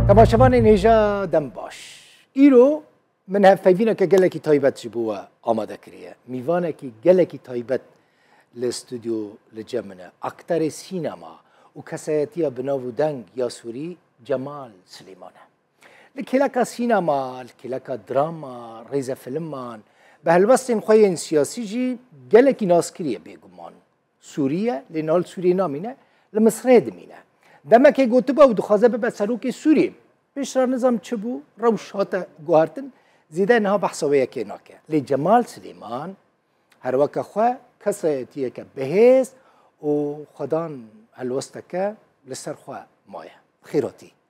Temaşevanên hêja dem baş. Îro min hevpeyvîneke gelekî taybet ji bo we amade kiriye. Mîvanekî gelekî taybet li stûdyo li cem min e. Akterê sînema û kesayetiya binav û deng ya Sûrî Cemal Silêman e. Li kêleka sînema, li kêleka drama, rêzefilman, bi helwestên xwe yên siyasî jî gelekî naskiriye bêguman. Sûriye lê niha li Sûriyê namîne, li Misirê dimîne. Demekê gotibû ew dixwaze bibe serokê Sûriyê. Pêş re nizam çi bû, rewş hate guhartin, zêde niha behsa wê yekê nake. Lê Cemal Silêman her weke xwe kesayetiyeke bihêz û xwedan helwesteke li ser xwe maye. Xêratî.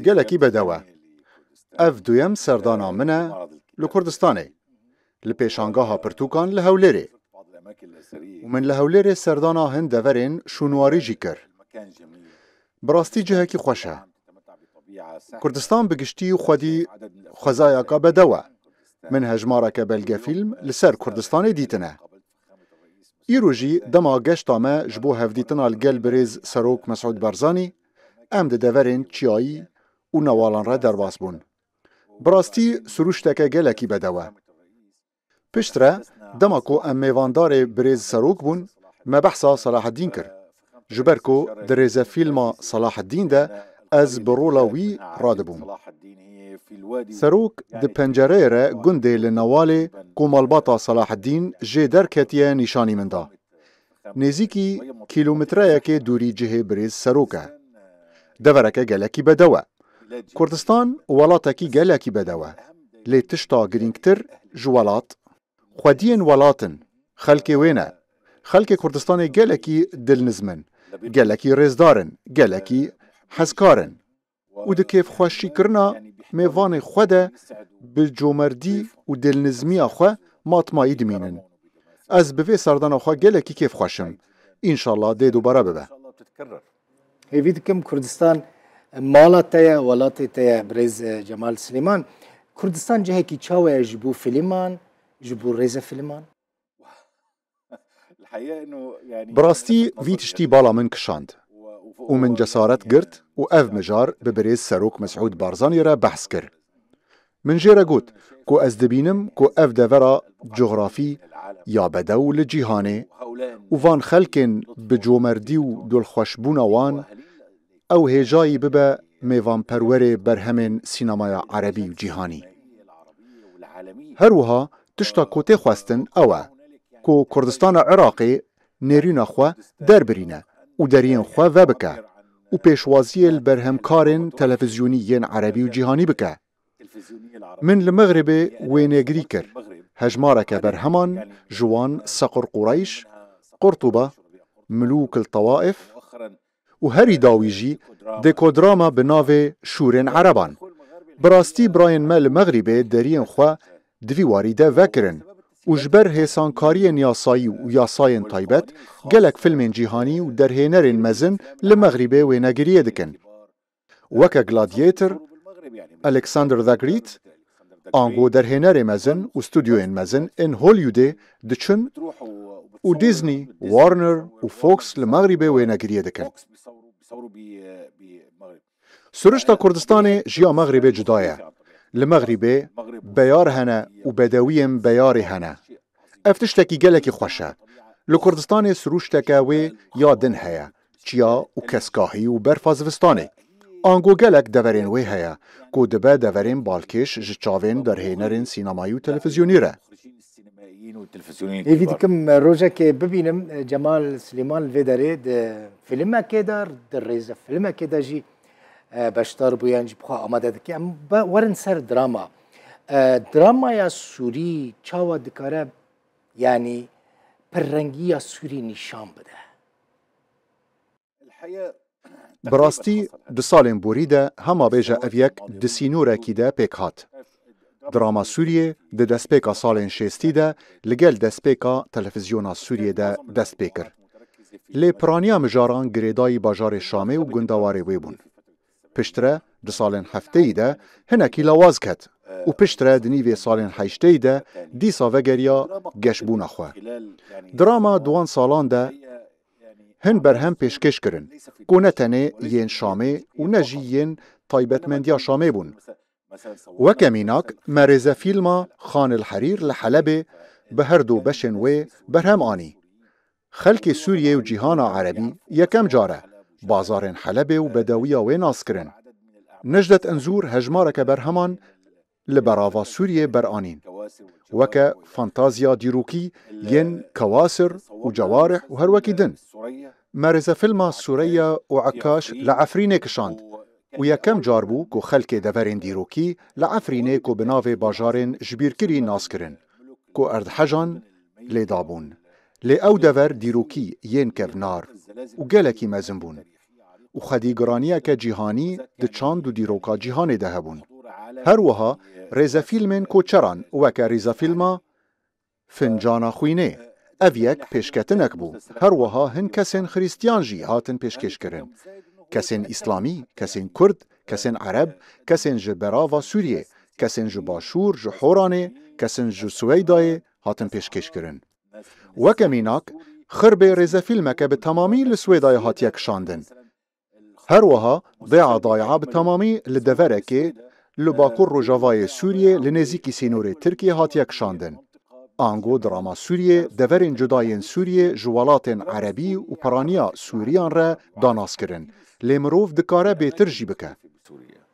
Gelekî bedew e. Ev duyem serdana min e li Kurdistanê, li pêşangaha pirtûkan li Hewlêrê. Û min li Hewlêrê serdana hin deverên şûnwarî jî kir. Bi rastî cihekî xweş e. Kurdistan bi giştî û xwedî xwezayaka bedew e. Min hejmareke belgefîlm li ser Kurdistanê dîtine. Îro jî dema geşta me ji bo hevdîtina li gel birêz serok Mesûd Barzanî, em di deverên çiyayî û newalan re derbas bûn. Bi rastî sirûşteke gelekî bedew e. Piştre dema ku em mêvandarê birêz serok bûn, me behsa Selahedîn kir. Ji ber ku di rêzefîlma Salaheddîn de ez bi rola wî radibûm. Serok di pencereyê re gundê li Newalê ku malbata Salaheddîn jê derketiye nîşanî min da. Nêzîkî kîlometreyekê dûrî cihê birêz Serok e. Devereke gelekî bedew e. Kurdistan welatekî gelekî bedew e. Lê tişta girîngtir ji welat, Xwediyên welat in, xelkê wê ne. Xelkê Kurdistanê gelekî dilnizm in, gelekî rêzdar in, gelekî hezkar in û di kêfxweşîkirina mêvanê xwe de bi comerdî û dilnizmiya xwe matmayî dimînin. Ez bi vê serdana xwe gelekî kêfxweş im. Înşallah dê dubare bibe. Hêvî dikim Kurdistan mala te ye, welatê te ye birêz e, Cemal Silêman. Kurdistan cihekî çawe ye ji bo filman, ji bo rêze filman? Bi rastî vî tiştî bala min kişand û min cesaret girt û ev mijar bi birêz serok Mesûd Barzanî re behs kir. Min jê re got ku ez dibînim ku ev devera cografî ya bedew li cîhanê û van xelkên bi comerdî û dilxweşbûna wan ew hêjayî bibe mêvanperwerê berhemên sînemaya erebî û cîhanî. Her wiha tişta ku tê xwestin ew e ku Kurdistana Iraqê nêrîna xwe derbirîne û deriyên xwe vebike û pêşwaziyê li berhemkarên televizyonî yên erebî û cîhanî bike. Min li Mexribê wênegirî kir, hejmareke berheman ji wan Sequr Qureyş, Qurtuba, Mulûk il Tawaif, û herî dawî jî dekodrama bi navê Şûrên Ereban. Bi rastî birayên me li Mexrîbê deriyên xwe di vî warî de vekirin û ji ber hêsankariyên yasayî û yasayên taybet gelek filmên cîhanî û derhênerên mezin li Mexrîbê wênegiriyê dikin. Weke Gladiator, Alexander the Great, ango derhênerê mezin û studyoyên mezin ên Hollywoodê diçin û Disney, Warner û Fox li Mexrîbê wênegiriyê dikin. Sirişta Kurdistanê ji ya Mexrîbê cuda ye. Li Mexrîbê beyar hene û bedewiyên beyarî hene. Ev tiştekî gelekî xweş e. Li Kurdistanê siruşteke wê ya din heye. Çiya û keskahî û berfa zivistanê. Ango gelek deverên wê heye ku dibe deverên balkêş ji çavên derhênerên sînemayî û televîzyonî re. Hêvî dikim rojekê bibînim Cemal Silêman li vê derê di fîlmekê de, di rêzefîlmekê de jî beşdar bû yan jî bixwe amade dike. Em werin ser drama. Dramaya Sûrî çawa dikare yanî pirrengiya Sûrî nîşan bide? Bi rastî di salên borî de hema bêje ev yek di sînorekî de pêk hat. Drama Sûriyê di destpêka salên şêstî de li gel destpêka Televizyona Sûriyê de dest pê kir. Lê piraniya mijaran girêdayî bajarê Şamê û gundewarê wê bûn. Piştre di salên hefteyî de hinekî lawaz ket û piştre di nîvê salên heşteyî de dîsa vegeriya geşbûna xwe. Di rama di wan salan de hin berhem pêşkêş kirin ku ne tenê yên Şamê û ne jî yên taybetmendiya Şamê bûn. Weke mînak me rêzefîlma Xan el Herîr li Helebê bi herdu beşên wê berhem anî. Xelkê Sûriyeyê û cîhana erebî yekem car e bazarên Helebê û bedewiya wê nas kirin. Necdet Inzûr hejmareke berheman li berava Sûriyeyê beranîn, weke fantazya dîrokî yên Kawasir û Cewarih û her wekî din. Me rêzefîlma Sûreya û Ekkaş li Efrînê kişand û yekem car bû ku xelkê deverên dîrokî li Efrînê ku bi navê bajarên jibîrkirî nas kirin ku erdhejan lê dabûn. Lê ew dever dîrokî yên kevnar û gelekî mezin bûn û xwedî giraniyeke cîhanî di çand û dîroka cîhanê de hebûn. Her wiha rêzefîlmên koçeran weke rîzefîlma Fincana Xwînê, ev yek pêşketinek bû. Her wiha hin kesên xirîstîyan jî hatin pêşkêşkirin. Kesên îslamî, kesên kurd, kesên ereb, kesên ji berava Sûriyê, kesên ji başûr, ji Horanê, kesin ji Suweydayê, hatin pêşkêşkirin. Weke mînak, Xirbê rêzefîlmeke bi temamî li Swêdayê hatiye kişandin. Her wiha Dê'a Day'a bi temamî li deverekê li bakur rojavayê Sûriyê li nêzîkî sînorê Tirkiyê hatiye kişandin. Ango drama Sûriyê deverên cuda yên Sûriyê ji welatên erebî û piraniya Sûriyan re da naskirin, lê mirov dikare bêtir jî bike.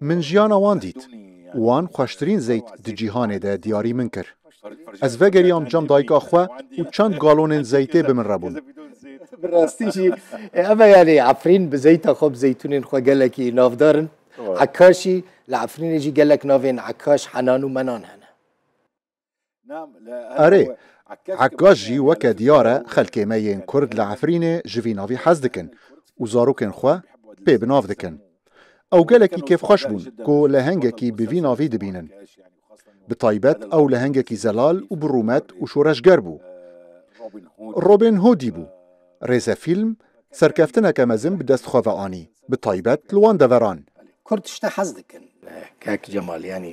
Min jiyana wan dît. Wan xweştirîn zeyt di cîhanê de diyarî min kir. Ez vegeriyam cem dayika xwe û çend galonên zeytê bi min re bûn. Bi rastî jî em e yanî Efrîn bi zeyta xwe bi zeytûnên xwe gelekî navdar in. Ekaşî, li Efrînê jî gelek navên Ekaş, Henan û Menan hene. Erê, Ekkaş jî weke diyar e xelkê me yên Kurd li Efrînê ji vî navî hez dikin û zarokên xwe pê bi nav dikin. Ew gelekî kêfxweş bûn ku lehengekî bi vî navî dibînin. Bi taybet ew lehengekî zelal û bi rûmet û şoreşger bû. Robin Hoodî bû. Rêze fîlm serkeftineke mezin bi dest xwe ve anî, bi taybet li wan deveran. Kurd tişta hez dikin. Kak Cemal, Yanî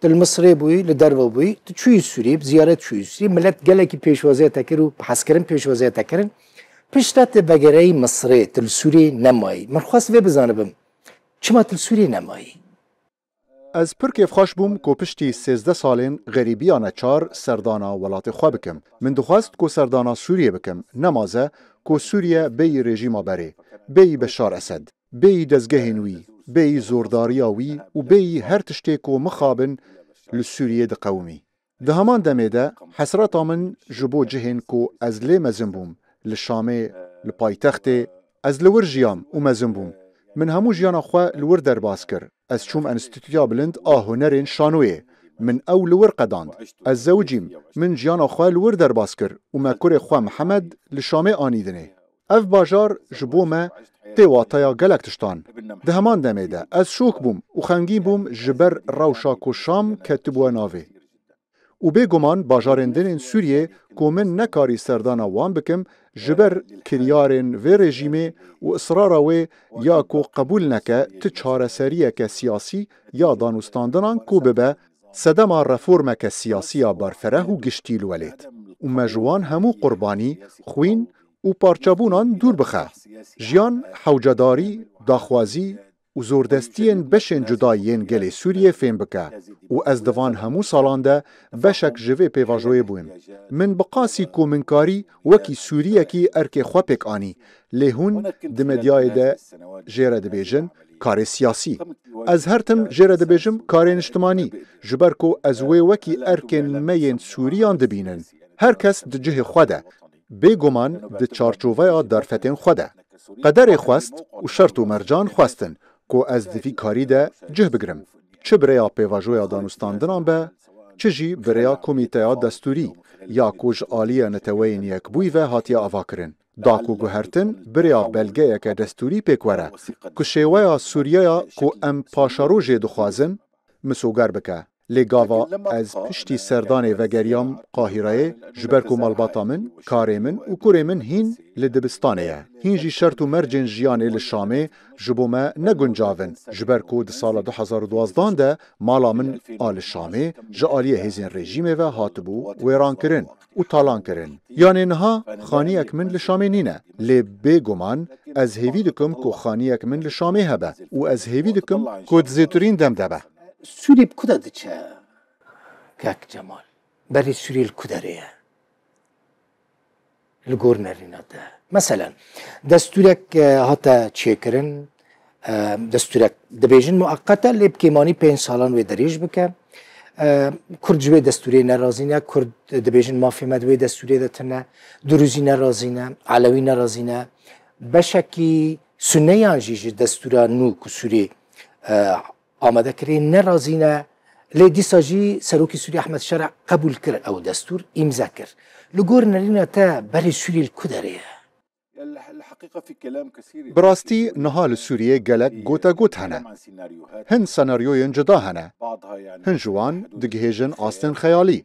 Tu li Misirê bûyî, li derve bûyî, tu çûyî Sûriyê, bi ziyaret çûyî Sûriyê, millet gelekî pêşwaziyê te kir û bi hezkirin pêşwaziyê te kirin. Piştre tu vegereyî Misirê, tu li Sûriyê nemayî. Min xwest vê bizanibim, çima tu li Sûriyê nemayî? Ez pir kêfxweş bûm ku piştî sêzdeh salên xerîbiya neçar serdana welatê xwe bikim. Min dixwest ku serdana Sûriyê bikim, nemaze ku Sûriye bêyî rejîma berê, bêyî Beşar Esed. Bêyî dezgehên wî, bêyî zordariya wî û bêyî her tiştê ku mixabin li Sûriyê diqewimî. Di heman demê de hesreta min ji bo cihên ku ez lê mezin bûm, li Şamê, li paytextê, ez li wir jiyam û mezin bûm. Min hemû jiyana xwe li wir derbas kir. Ez çûm Enstîtuya Bilind a Hunerên Şanoyê. Min ew li wir qedand. Ez zewicîm. Min jiyana xwe li wir derbas kir û me kurê xwe Mihemed li Şamê anî dinê. Ev bajar ji bo me tê wateya gelek tiştan. Di heman demê de ez şok bûm û xemgîn bûm ji ber rewşa ku Şam ketibûye navê. Û bê guman bajarên din ên Sûriyê ku min nekarî serdana wan bikim ji ber kiryarên vê rejîmê û israra wê ya ku qebûl neke tu çareseriyeke siyasî ya danûstandinan ku bibe sedema reformeke siyasî ya berfereh û giştî li welêt û me ji wan hemû qurbanî, xwîn û parçebûnan dûr bixe. Jiyan, hewcedarî, daxwazî, û zordestiyên beşên cuda yên gelê Sûriyê fêm bike û ez di van hemû salan de beşek ji vê pêvajoyê bûm. Min bi qasî komînkarî wekî Sûriyekî erkê xwe pêk anî, lê hûn di medyayê de jê re dibêjin karê siyasî. Ez her tim jê re dibêjim karê niştimanî, ji ber ku ez wê wekî erkên me yên Sûriyan dibînin. Her kes di cihê xwe de. Bêguman di çarçoveya derfetên xwe de, qederê xwest û şert û mercan xwestin ku ez di vî karî de cih bigirim, çi bi rêya pêvajoya danûstandinan be, çi jî bi rêya komîteya destûrî ya ku ji aliyê Neteweyên Yekbûyî ve hatiye avakirin, da ku guhertin bi rêya belgeyeke destûrî pêk were ku şêweya Sûriyeya ku em paşerojê dixwazin misoger bike. Lê gava ez piştî serdanê vegeriyam Qahîreyê ji ber ku malbata min, karê min û kurê min hîn li dibistanê ye. Hîn jî şert û mercên jiyanê li Şamê ji bo me ne guncav in ji ber ku di sala du hezar û duwazdeh de mala min a li Şamê ji aliyê hêzên rejîmê ve hatibû wêrankirin. û talan kirin. Yanê niha xaniyek min li Şamê nîne. Lê bê guman ez hêvî dikim ku xaniyek min li Şamê hebe û ez hêvî dikim ku di zêtirîn dem de be. Sûrî bi ku de diçe? Kak Cemal, Berî Sûrî li ku derê ye? Li gor nerîna te. Meselen, destûrek hate çêkirin. destûrek dibêjin mueqet e lê bi kêmanî pênc salan wê derêj bike. Kurd ji wê destûrê nerazî ne, Kurd dibêjin mafê me di wê destûrê de tune, Durûzî nerazî ne, Elewî nerazî ne. Beşekî suneyan jî ji destûra nû ku Sûrê amade kirê nerazî ne. Lê dîsa jî Serokê Sûrê Ehmed Şera qebûl kir ew destûr îmze kir. Li gor nerîna te berê Sûrê li ku derê ye? Bi rastî niha li Sûriyê gelek gotegot hene. Hin senaryoyên cuda hene. Hin ji wan digihêjin astên xeyalî.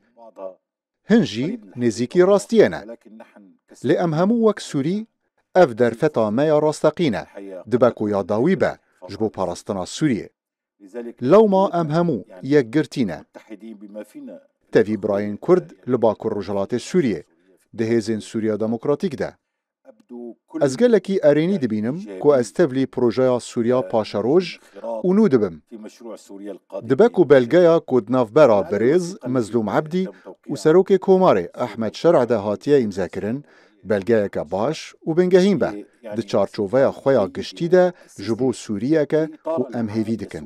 Hin jî nêzîkî rastiyê ne. Lê em hemû wek Sûrî ev derfeta me ya rasteqîn e, dibe ku ya dawî be ji bo parastina Sûriyê. Lewma em hemû yekgirtî ne. Tevî birayên Kurd li Bakur Rojhilatê Sûriyê, di hêzên Sûriya Demokratîk de. Ez gelekî erênî dibînim ku ez tevlî projeya Sûriya Paşeroj û nû dibim. Dibe ku belgeya ku di navbera Birêz Mezlûm Ebdî û Serokê Komarê Ehmed Şer'de hatiye îmzekirin, Belgeyeke baş û bingehîn be, di çarçoveya xwe ya giştî de ji bo Sûriyeke ku em hêvî dikin.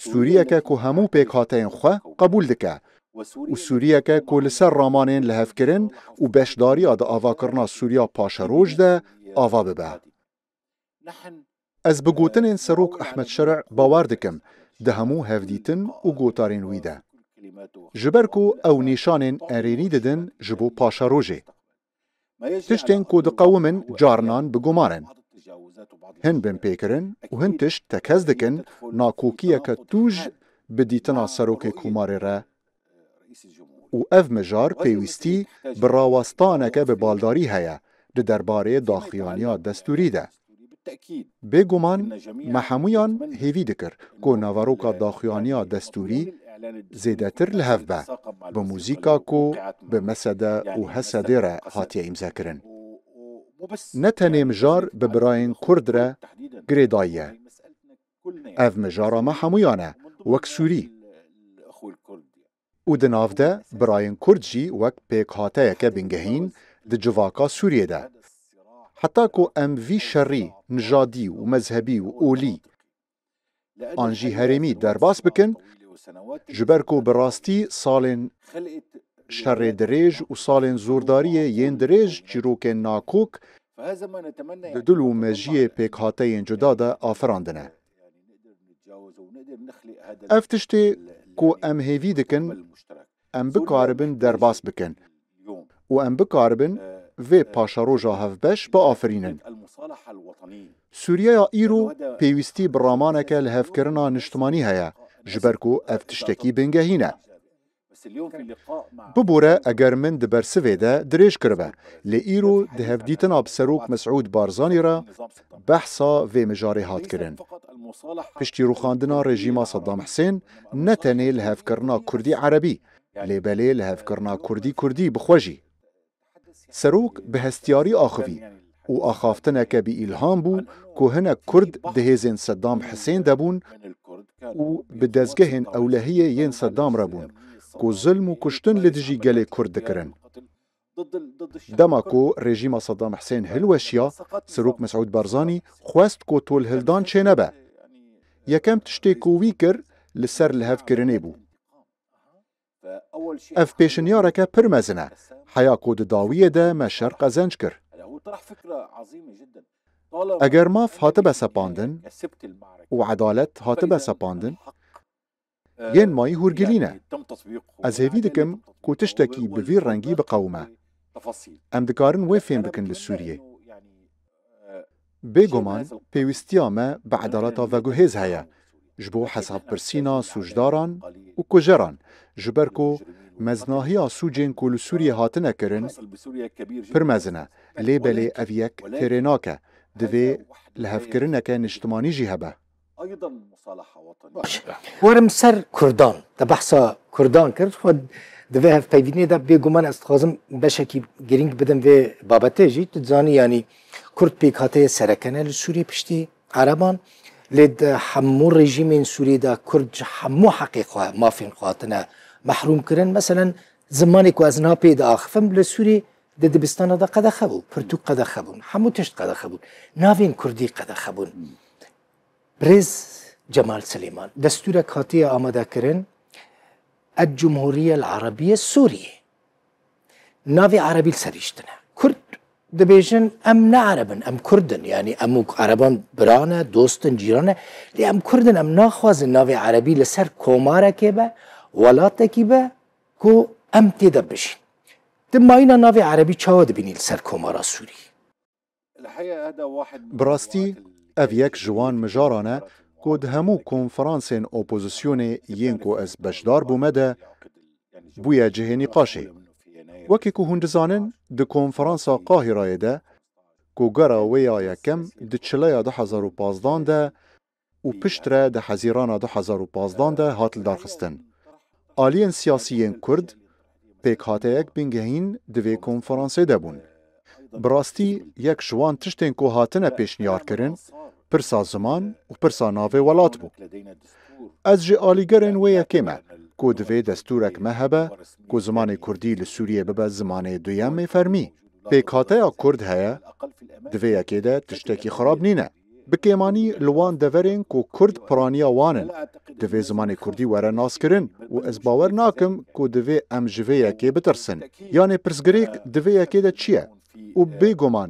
Sûriyeke ku hemû pêkhateyên xwe qebûl dike û Sûriyeke ku li ser ramanên lihevkirin û beşdariya di avakirina Sûriya Paşeroj de ava bibe. Ez bi gotinên Serok Ehmed Şerî bawer dikim di hemû hevdîtin û gotarên wî de. Ji ber ku ew nîşanên erênî didin ji bo paşerojê. Tiştên ku diqewimin carinan bi guman in. Hin binpêkirin û hin tişt tekez dikin nakokiyeke tûj bi dîtina Serokê Komarê re û ev mijar pêwîstî bi rawestaneke bi baldarî heye di derbarê daxuyaniya destûrî de. Bê guman me hemûyan hêvî dikir ku naveroka daxuyaniya destûrî zêdetir li hev be, bi muzîka ku bi Mesede û Hesedê re hatiye îmzekirin. Ne tenê mijar bi birayên Kurd re girêdayî ye. Ev mijara me hemûyan e, wek Sûrî. Û di nav de birayên Kurd jî wek pêkhateyeke bingehîn di civaka Sûriyê de. Heta ku em vî şerî nijadî û mezhebî û olî an jî herêmî derbas bikin, ji ber ku bi rastî salên şerê dirêj û salên zordariyê yên dirêj çîrokên nakok Di dil û mejiyê pêkhateyên cuda de afirandin e. Ev tiştê ku em hêvî dikin em bikaribin derbas bikin û em bikaribin vê paşeroja hevbeş biafirînin. Sûriyeya îro pêwîstî bi ramaneke lihevkirina niştimanî heye ji ber ku ev tiştekî bingehîn e. Bibore eger min di bersivê de dirêj kiribe, lê îro di hevdîtina bi Serok Mesûd Barzanî re behsa vê mijarê hat kirin. Piştî rûxandina rejîma Sedam Hisên ne tenê lihevkirina Kurdî-Erebî lê belê lihevkirina Kurdî-Kurdî bi xwe jî. Serok bi hestiyarî axivî û axaftineke bi îlham bû ku hinek Kurd di hêzên Sedam Hisên de bûn û bi dezgehên ewlehiyê yên Sedam re bûn ku zilm û kuştin li dijî gelê Kurd dikirin. Dema ku rejîma Sedam Hisên hilweşiya, Serok Mesûd Barzanî xwest ku tolhildan çênebe. Yekem tiştê ku wî kir li ser lihevkirinê bû. Ev pêşniyareke pir mezin e. Heya ku di dawiyê de me şer qezenc kir. Eger maf hatibe sepandin û edalet hatibe sepandin, yên mayî hûrgilî ne. Ez hêvî dikim ku tiştekî bi vî rengî biqewime. Em dikarin wê fêm bikin li Sûriyê. Bêguman pêwîstiya me bi edaleta veguhêz heye ji bo hesabpirsîna sûcdaran û kujeran ji ber ku meznahiya sûcên ku li Sûriyê hatine kirin pir mezin e lê belê ev yek têrê nake, divê lihevkirineke niştimanî jî hebe. Baş e. Werim ser kurdan. Te behsa kurdan kir. Xwe di vê hevpeyvînê de bêguman ez dixwazim beşekî girîng bidim vê babetê jî. Tu dizanî yanî kurd pêkhatiye sereke ne li Sûriyê piştî ereban. Lê di hemû rejîmên Sûriyê de kurd ji hemû heqê xwe mafên xwe hatine mehrûmkirin. Meselen zimanê ku ez niha pê diaxivim li Sûriyê Di dibistana de qedexe bû, pirtûk qedexe bûn, hemû tişt qedexe bûn. Navên kurdî qedexe bûn. Birêz Cemal Silêman, destûrek hatiye amadekirin, El-Cumhuriyel Arabiye Sûriye. Navê erebî li serî şitine. Kurd dibêjin em ne ereb in, em kurd in. Yanî em û ereban bira ne, dost in, cîran ne. Lê em kurd in, em naxwazin navê erebî li ser komarekê be, welatekî be, Ku em tê de bijîn. Ti mayîna navê erebî çawa dibînî li ser Komara Sûrî? Bi rastî ev yek ji wan mijaran e ku di hemû konferansên opozisyonê yên ku ez beşdar bûme de bûye cihê nîqaşê. Wekî ku hûn dizanin di konferansa Qahîrayê de ku gera wê ya yekem di çileya du hezar û pazdeh de û piştre di hezîrana du hezar û pazdeh de hat lidarxistin. Aliyên siyasî yên Kurd pêkhateyek bingehîn di vê konferansê de bûn. Bi rastî yek ji wan tiştên ku hatine pêşniyarkirin pirsa ziman û pirsa navê welat bû. Ez ji alîgerên wê yekê me ku divê destûrek me hebe ku zimanê Kurdî li Sûriyê bibe zimanê duyemê fermî. Pêkhateya Kurd heye, di vê yekê de tiştekî xirab nîne. Bi kêmanî li wan deverên ku kurd piraniya wan in, divê zimanê kurdî were naskirin û ez bawer nakim ku divê em ji vê yekê bitirsin. Yanê pirsgirêk di vê yekê de çi ye? Û bêguman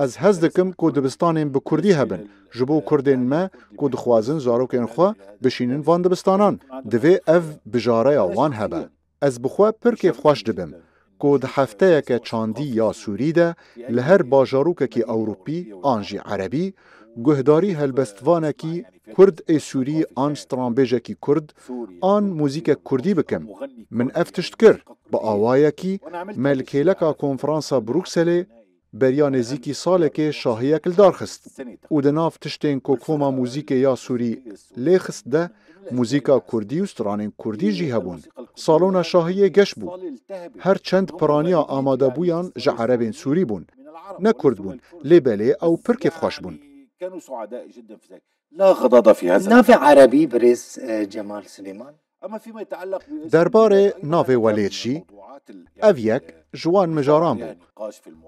ez hez dikim ku dibistanên bi kurdî hebin ji bo kurdên me ku dixwazin zarokên xwe bişînin van dibistanan, divê ev bijareya wan hebe. Ez bi xwe pir kêfxweş dibim ku di hefteyeke çandî ya sûrî de li her bajarokekî ewropî an jî erebî guhdarî helbestvanekî kurd ê sûrî an stranbêjekî kurd an muzîkek kurdî bikim. Min ev tişt kir bi awayekî me li kêleka konferansa Brukselê, Beriya nêzîkî salekê şahiyek li dar xist û di nav tiştên ku koma muzîkê ya Sûrî lê xist de muzîka Kurdî û stranên Kurdî jî hebûn. Salona şahiyê geş bû. Her çend piraniya amadebûyan ji erebên Sûrî bûn. Ne Kurd bûn lê belê ew pir kêfxweş bûn. Navê erebî birêz Cemal Silêman. Derbarê navê Welêt jî ev yek ji wan mijaran bû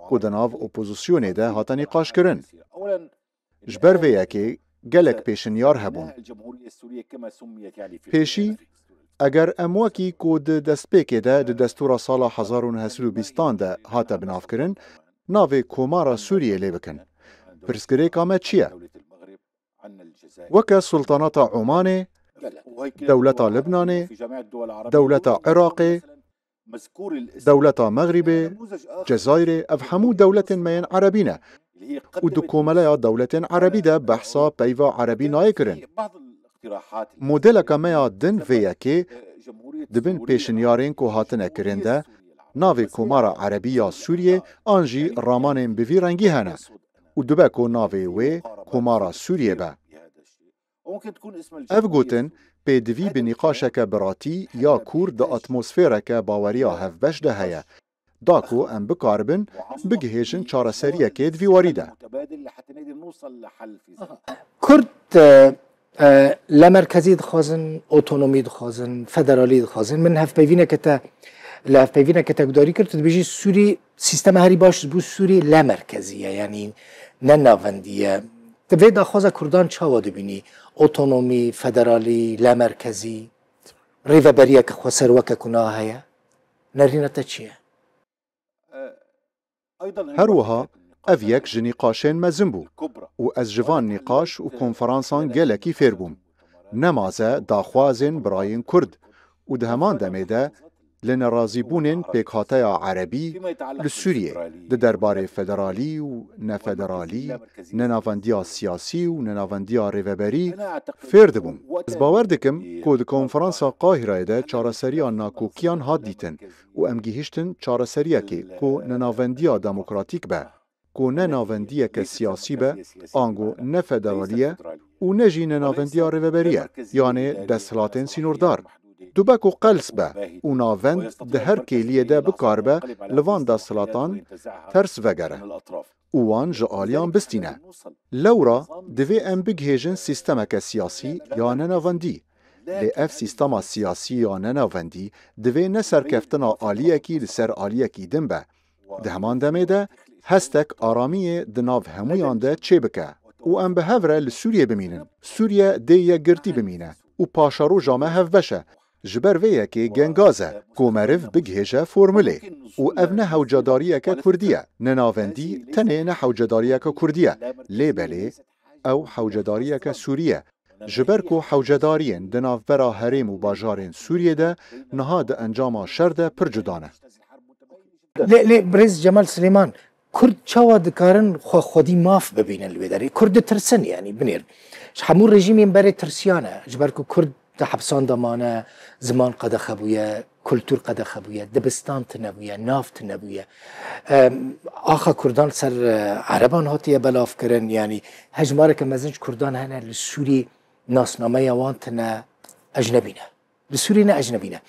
ku di nav opozisyonê de hate nîqaşkirin. Ji ber vê yekê gelek pêşinyar hebûn. Pêşî eger em wekî ku di destpêkê de di destûra sala hezar û neh sed û bîst an de hate binavkirin navê Komara Sûriyê lê bikin, pirsgirêka me çi ye? weke Sultanata Omanê, Dewleta Libnanê, Dewleta Iraqê, Dewleta Mexrîbê, Cezayirê ev hemû dewletên me yên Erebî ne û di komeleya dewletên Erebî de behsa peyva Erebî nayê kirin. Modeleke me ya din vê yekê di bin pêşinyarên ku hatine kirin de navê Komara Erebî ya Sûriyê an jî ramanên bi vî rengî hene. û dibe ku navê wê Komara Sûriyê be. Ev gotin pêdivî bi nîqaşeke biratî ya kûr di atmosfêreke baweriya hevbeş de heye, da ku em bikaribin bigihêjin çareseriyekê di vî warî de. Kurd La merkezî dixwazin, otonomî dixwazin, federalî dixwazin. Min hevpeyvîneke te li hevpeyvîneke te gudarî kir, tu dibêjî Sûrî sîstema herî baş ji bo Sûrî la merkezî ye yanî ne navendî ye. Ti vê daxwaza Kurdan çawa dibînî? Otonomî, federalî, la merkezî, rêveberiyeke xweser weke ku na heye. Nerîna te çi ye? Her wiha ev yek ji nîqaşên mezin bû û ez ji van nîqaş û konferansan gelekî fêr bûm. Ne maze daxwazên birayên Kurd û di heman demê de li nerazîbûnên pêkhateya Erebî li Sûriyê di derbarê federalî û nefederalî, nenavendiya siyasî û nenavendiya rêveberî fêr dibûm. Ez bawer dikim ku di konferansa Qahireyê de çareseriya nakokiyan hat dîtin û em gihîştin çareseriyekê ku ne navendiya demokratîk be, ku ne navendiyeke siyasî be, ango ne federalî ye û ne jî ne navendiya rêveberî ye yanê desthilatên sînordar. Dibe ku qels be û navend di her kêliyê de bikaribe li van desthilatan ters vegere. û wan ji aliyan bistîne. Lewra divê em bigihêjin sîstemeke siyasî ya nenavendî. Lê ev sîstema siyasî ya nenavendî divê ne serkeftina aliyekî li ser aliyekî din be. Di heman demê de hestek aramiyê di nav hemûyan de çêbike û em bi hev re li Sûriyê bimînin. Sûriye dê yekgirtî bimîne û paşeroja me hevbeş e. Ji ber vê yekê gengaz e ku meriv bigihêje formulê û ev ne hewcedariyeke kurdî ye, ne navendî tenê ne hewcedariyeke kurdî ye lê belê ew hewcedariyeke sûrî ye ji ber ku hewcedariyên di navbera herêm û bajarên Sûriyê de niha di encama şer de pir cuda ne. Lê lê birêz Cemal Silêman Kurd çawa dikarin xwe xwedî maf bibînin li wê derê? Kurd ditirsin yanî binêr. Ji hemû rejîmên berê tirsiyan e. Ji ber ku kurd di hepisan de mane, ziman qedexe bûye, kultûr qedexe bûye, dibistan tune bûye, nav tune bûye. Axa kurdan li ser ereban hatiye belavkirin yanî hejmareke mezin ji kurdan hene li Sûrî nasnameya wan tune ecnebî ne. Li Sûriyê ne ecnebî ne.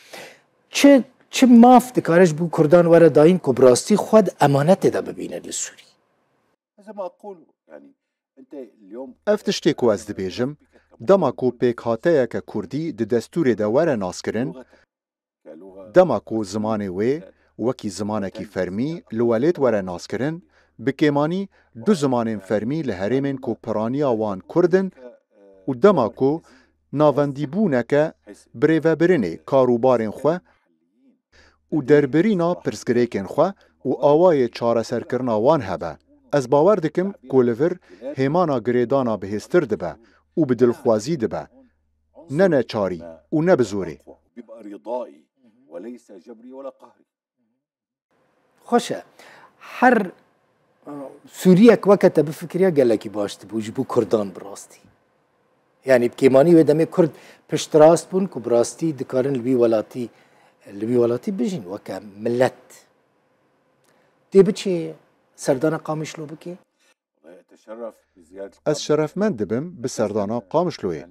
Çi çi maf dikare ji bo kurdan were dayîn ku bi rastî xwe di emanetê de bibîne li Sûriyê? Ev tiştê ku ez dibêjim, dema ku pêkhateyeke kurdî di destûrê de were naskirin, dema ku zimanê wê wekî zimanekî fermî li welêt were naskirin, bi kêmanî du zimanên fermî li herêmên ku piraniya wan kurd in û dema ku navendîbûneke birêvebirinê karûbarên xwe û derbirîna pirsgirêkên xwe û awayê çareserkirina wan hebe, ez bawer dikim ku li vir hêmana girêdana bihêztir dibe û bi dilxwazî dibe, ne neçarî û ne bi zorê. Xweş e. Her Sûriyek weke te bifikiriya gelekî baş dibû ji bo Kurdan bi rastî. Yanî bi kêmanî wê demê Kurd piştrast bûn ku bi rastî dikarin li wî welatî li wî welatî bijîn weke milet. Tê biçê serdana Qamişlo bikê? Ez şerefmend dibim bi serdana Qamişloyê.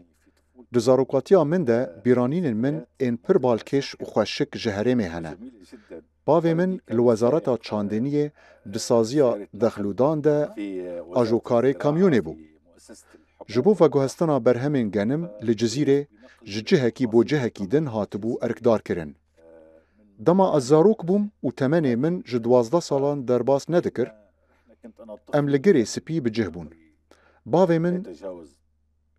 Di zarokatiya min de bîranînên min ên pir balkêş û xweşik ji herêmê hene. Bavê min li Wezareta Çandiniyê di saziya dexlûdan de ajokarê kamyonê bû. Ji bo veguhestina berhemên genim li Cizîrê ji cihekî bo cihekî din hatibû erkdarkirin. Dema ez zarok bûm û temenê min ji duwazdeh salan derbas nedikir, Em li girê spî bi cih bûn. Bavê min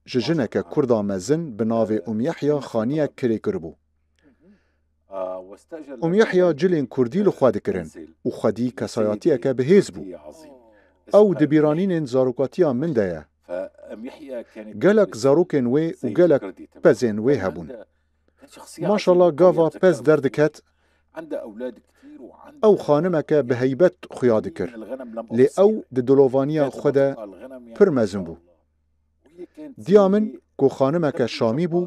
ji jineke kurda mezin bi navê Umyahya xaniyek kirê kiribû. Umyahya cilên kurdî li xwe dikirin û xwedî kesayatiyeke bi hêz bû. Ew di bîranînên zarokatiya min de ye. Gelek zarokên wê û gelek pezên wê hebûn. Maşallah gava pez derdiket. Ew xanimeke bi heybet xuya dikir. Lê ew di dilovaniya xwe de pir mezin bû. Diya min ku xanimeke Şamî bû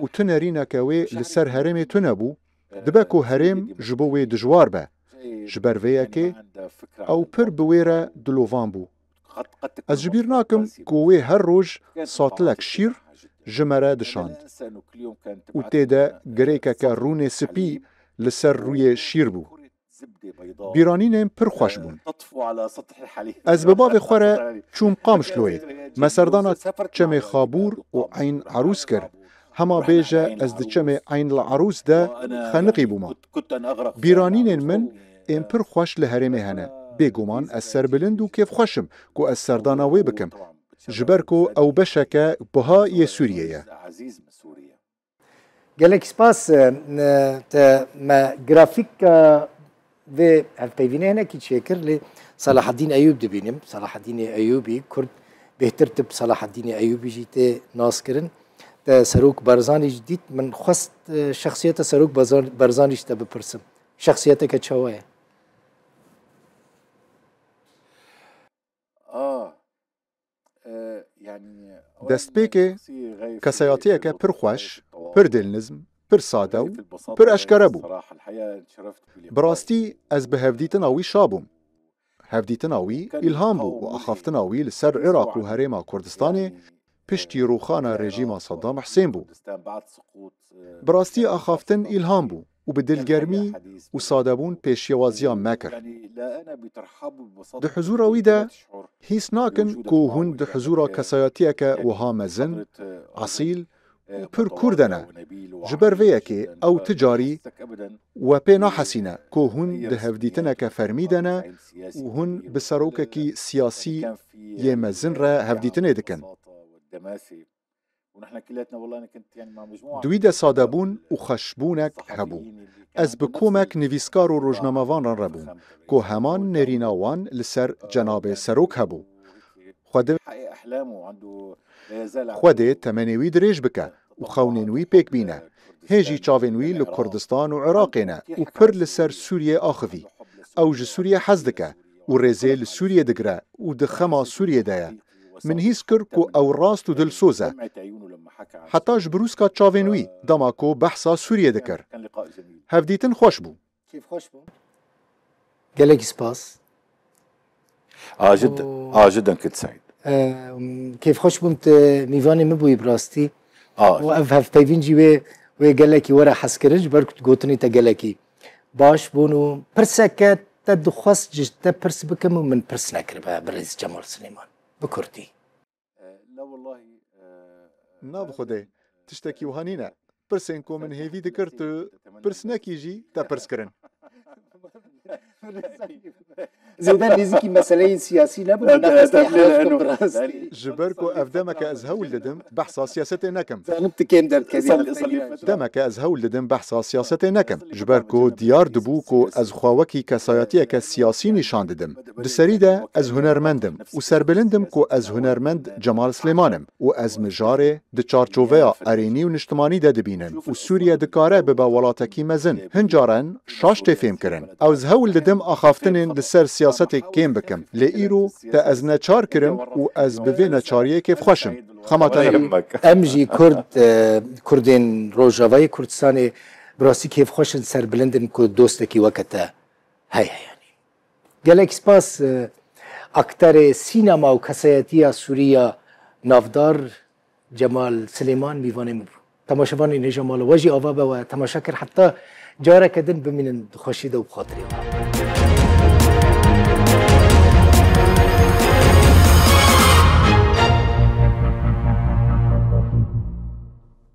û tu nerîneke wê li ser herêmê tune bû, dibe ku herêm ji bo wê dijwar be. Ji ber vê yekê ew pir bi wê re dilovan bû. Ez ji bîr nakim ku wê her roj satilek şîr ji me re dişand û tê de girêkeke rûnê spî li ser rûyê şîr bû. Bîranînên pir xweş bûn. Ez bi bavê xwe re çûm Qamişloyê, me serdana çemê Xabûr û Eyn Erûs kir, hema bêje ez di çemê Eyn li Erûs de xeniqî bûma. Bîranînên min ên pir xweş li herêmê hene. Bêguman ez serbilind û kêfxweş im ku ez serdana wê bikim. Ji ber ku ew beşeke buha yê Sûriyê ye. Gelek spas te me grafîka vê hevpeyvînê hinekî çêkir lê Salaheddîn Eyûb dibînim. Salaheddînê Eyûbî, Kurd bêhtir tip Salaheddînê Eyûbî jî tê naskirin. te Serok Barzanî jî dît. Min xwest şexsiyeta Serok Barzanî jî te bipirsim. Şexsiyeteke çawa ye? Destpêkê kesayatiyeke pir xweş, pir dêlnizm, pir sade û pir eşkere bû. Bi rastî ez bi hevdîtina wî şabûm. Hevdîtina wî îlham bû û axaftina wî li ser Iraq û Herêma Kurdistanê piştî rûxana rejîma Saddam Husên bû. Bi rastî axaftin îlham bû û bi dilgermî û sadebûn pêşewaziya me kir. Di huzûra wî de hîs nakin ku hûn di huzûra kesayetiyeke wiha mezin, esîl û pir kurde ne. Ji ber vê yekê ew ti carî we pê nahesîne ku hûn di hevdîtineke fermî de ne û hûn bi serokekî siyasî yê mezin re hevdîtinê dikin. Di wî de sadebûn û xweşbûnek hebû. Ez bi komek nivîskar û rojnamevan re re bûm ku heman nêrîna wan li ser cenabê serok hebû. Xwedê Xwedê temenê wî dirêj bike û xewnên wî pêk bîne. Hê jî çavên wî li Kurdistan û Iraqê ne û pir li ser Sûriyê axivî. Ew ji Sûriyê hez dike û rêzê li Sûriyê digire û di xema Sûriyê de ye. Min hîs kir ku ew rast û dilsoz e. Heta ji brûska çavên wî dema ku behsa Sûriyê dikir. Hevdîtin xweş bû. Kêfxweş bû. Gelekî spas. Ajid Ajidan kit Said. Kêfxweş bûm tu mîvanê min bûyî bi rastî. Û ev hevpeyvîn jî wê wê gelekî were hez kirin ji ber ku tu gotinî te gelekî baş bûn û pirseke te dixwest ji te pirs bikim û min pirs nekiribe birêz Cemal Silêman bi kurdî. Na bi xwedê tiştekî wiha nîne. Pirsên ku min hêvî dikir tu pirsnekî jî te pirs kirin. Zêde nêzîkî meseleyên siyasî nebûn û nexwestî hewş bikim bi rastî. Ji ber ku ev demeke ez hewl didim behsa siyasetê nekim. Dizanim tu kêm derdikevî hefteyê re jî. Demeke ez hewl didim behsa siyasetê nekim. Ji ber ku diyar dibû ku ez xwe wekî kesayetiyeke siyasî nîşan didim. Di serî de ez hunermend im û serbilind im ku ez hunermend Cemal Silêman im û ez mijarê di çarçoveya erênî û niştimanî de dibînim û Sûriye dikare bibe welatekî mezin. Hin caran şaş tê fêmkirin. Ew ji hewl didim axaftinên li ser siyasetê kêm bikim lê îro te ez neçar kirim û ez bi vê neçariyê kêfxweş im. Xema te nebe. Em jî kurd, kurdên Rojavayê Kurdistanê bi rastî kêfxweş in, serbilind in ku dostekî weke te heye. Yanî Gelek spas akterê sînema û kesayetiya Sûrî ya navdar Cemal Silêman mîvanê min bû. Temaşevanên hêja mala we jî ava be we temaşe kir heta careke din bimînin di xweşî de û bi xatirê we.